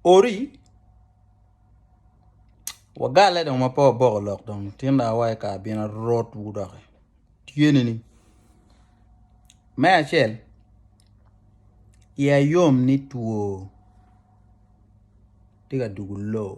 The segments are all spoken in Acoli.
Ori wagale dong ma pe waboko lok dong tinda wa i kare bino arot wudok tyene ni me acel iya yom ni two tye ka dugo loo.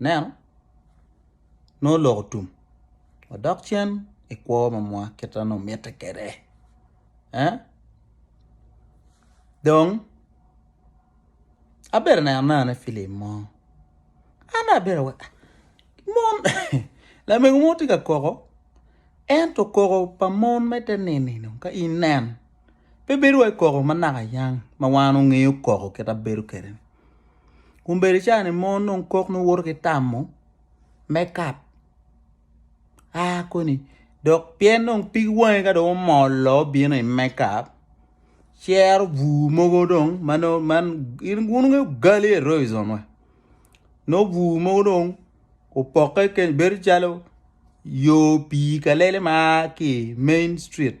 Nen, nongo oloko tum, odok cen i kwo ma mwa kit ma nongo mitte kwede. Dong abedo ka neno anena filim mo, an dong abedo aweko mon lamego mo tye ka koko ento koko pa mon ma ite nino ka in ineno pe bedo wai koko ma nakayang ma wan ongeyo koko kit ma bedo kwede-ni. kun bene cani mo nongo kok nongo woto ki tamo me kap a koni dok pien dong pig wangi ka dong omollo obino i mekap cero bur mogo dong ma nongo man in wun wunongo ogali eroism wa nongo bur mogo dong opokke kany bedo calo yo pii kalele ma aa ki i main street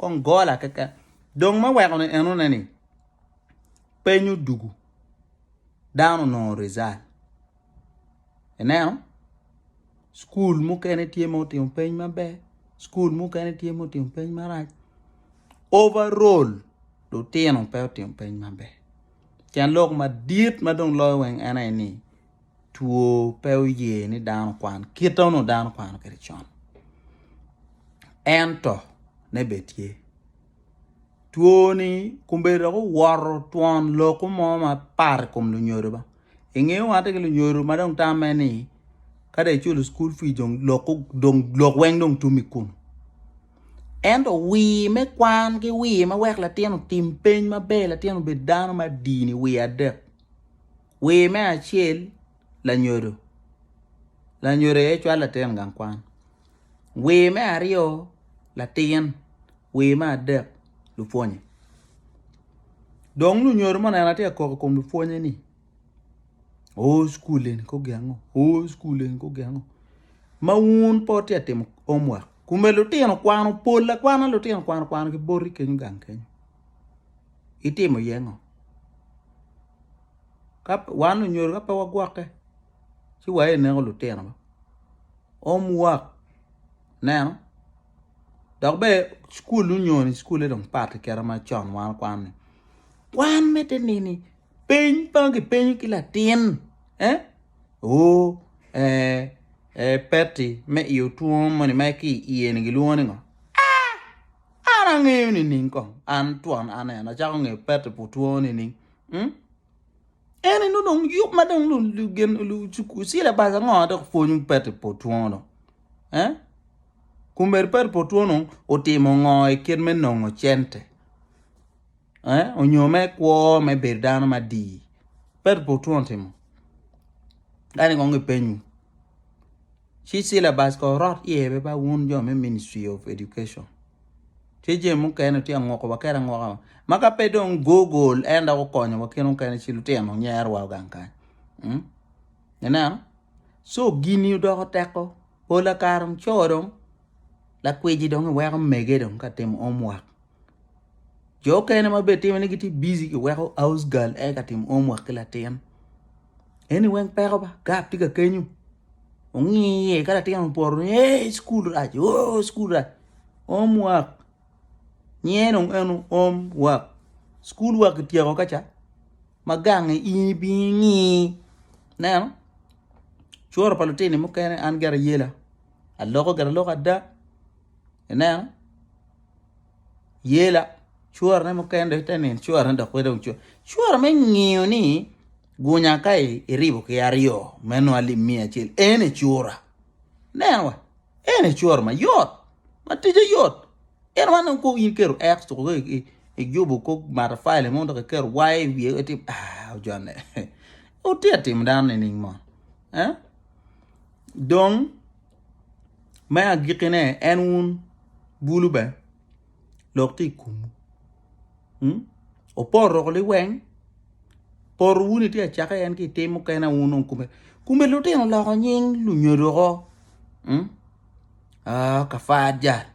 Kong gola keken. Dong ma weko ni eno ne ni penyo dugu dano nongo result. Eneno school mukene tye mo timo peny maber, school mukene tye mo timo peny marac. Overall lutino pe otimo peny maber. Cen lok madit ma dong loyo weng ene ni two pe oye ni dano okwan kite ma onongo dano kwano kwede con ento ne bene tye two ni kombeddi dok owoto twon loku mo mapat i kom lunyodo ba ingeyo wa ki lunyodo ma dong tamme ni ka dong iculo cukul pii dong lok weng dong tum i kulu ento wir me kwan ki wir ma wek latin otim piny maber latin obed dano madini wir adek Wer me acel, Lanyodo. Lanyodo aye cwalo latin gang kwan. Wer me aryo, Latin. Wer me adek, Lupwonye. Dong lunyodo mo neno atye ka koko i kom lupwonye ni o cukul eni ko gengo, o cukul eni ko gengo. Ma wun po tye ka timo omwak. Kume lutino kwano pol akwana lutino kwano kwano ki boti kenyo gang kenyo. itimo iye ngo? Wan onyodo ka pe wagwokke ci wa i neko lutinowa home work neno dok bene cukul onyoni cukule dong pat ki kite macon wan kwan ni kwan mitte nini peny ma kipenyo ki latin oo ee peti me iyo twom moni ma ki iye ni gilwongo ni ngo? An angeyo nining kong? An twon an en acako ngeyo Petty pu two nining. Hmm? En eno dong yub ma dong lu lu gen lu cuku sile bas ango dok pwony Petty pu two dong. Eh? Kumberi Petty pu two dong otimo ngo i kit me nongo cente? Eh? Onyo me kwo me bedo dano ma di? Petty pu two otimo. Kani kong ipenyu. ci syllabus ko orot iye be ba wun jo me Ministry of Education. Tye jami mukene tye angoko wa kera angoka wa. Ma ka pe dong Google en dok okonyo wa kene mukene ci lutino nyero wa gang kany. Mm? Ineno? So gini odoko teko. Pola kare dong co dong lakwiji dong iweko mege dong ka timo homework. Jo okene ma bene timme ni gitye busy ki weko house girl aye ka timo home work ki latin. Eni weng peko ba, gap tye ka kenyo. Ongi iye ka latin oporo ni ee school rac, oo school rac. Home work. Nyinge dong eno home work. School work kityeko kaca ma gange in ibingo ingi. Ineno? Curo pa lutini mukene an gire ayela. Aloko gire aloka ada. Ineno? yela curane mukene dok ite nino curane dok pe dong cura cura me ngiyo ni gunya ka iribo ki aryo me nwa lim miya acel ene cura neno wa ene cura mayot ma tije yot en wan dong kong in keto x tuko ka ijubo kong matafali mo dok iketo y i wiye wek itim ah ojanne wutye ka timo dano nining mo eh dong Me agikkine, en wun bulu bene lok tye i komwu. Hmm? Opoto roko liweng, poto wuni tye acake en ki itim mukene wun on kume. Kume lutino loko nying lunyodo ko. Hmm? Ah, kafat jal.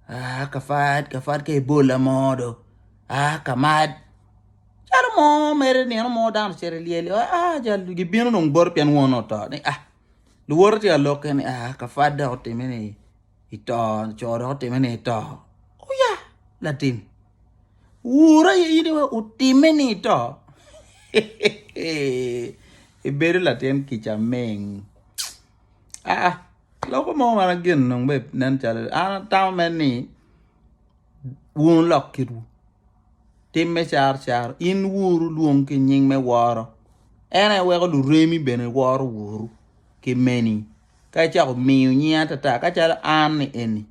Ah, kafat, kafat ka ibola mo do. Ah, kamad. Calo mo mere nino mo dano cere lyeli, ah, jal gibino dong bot pien won oto. Ni ah, Luwote tye ka lokke ni, Ah, ka Fat dok otime ni i to, co dok otime ni i to. Oya, latin. Wur aye in iwe otime ni i to. Ibedo latin kica ming. Ah, ah. loko mo man gin nung be nen calo an atamo men ni wun lok kitwu. tim me caro caro, in wuru lwong ki nying me woro. En aye weko luremi bene woro wuru ki meni, ka icako miyo nying atata ka calo an ni eni.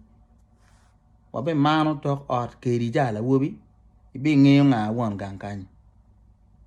Wabimano tok ot kedi calo lawobi, ibingeyo nga won gang kanyi.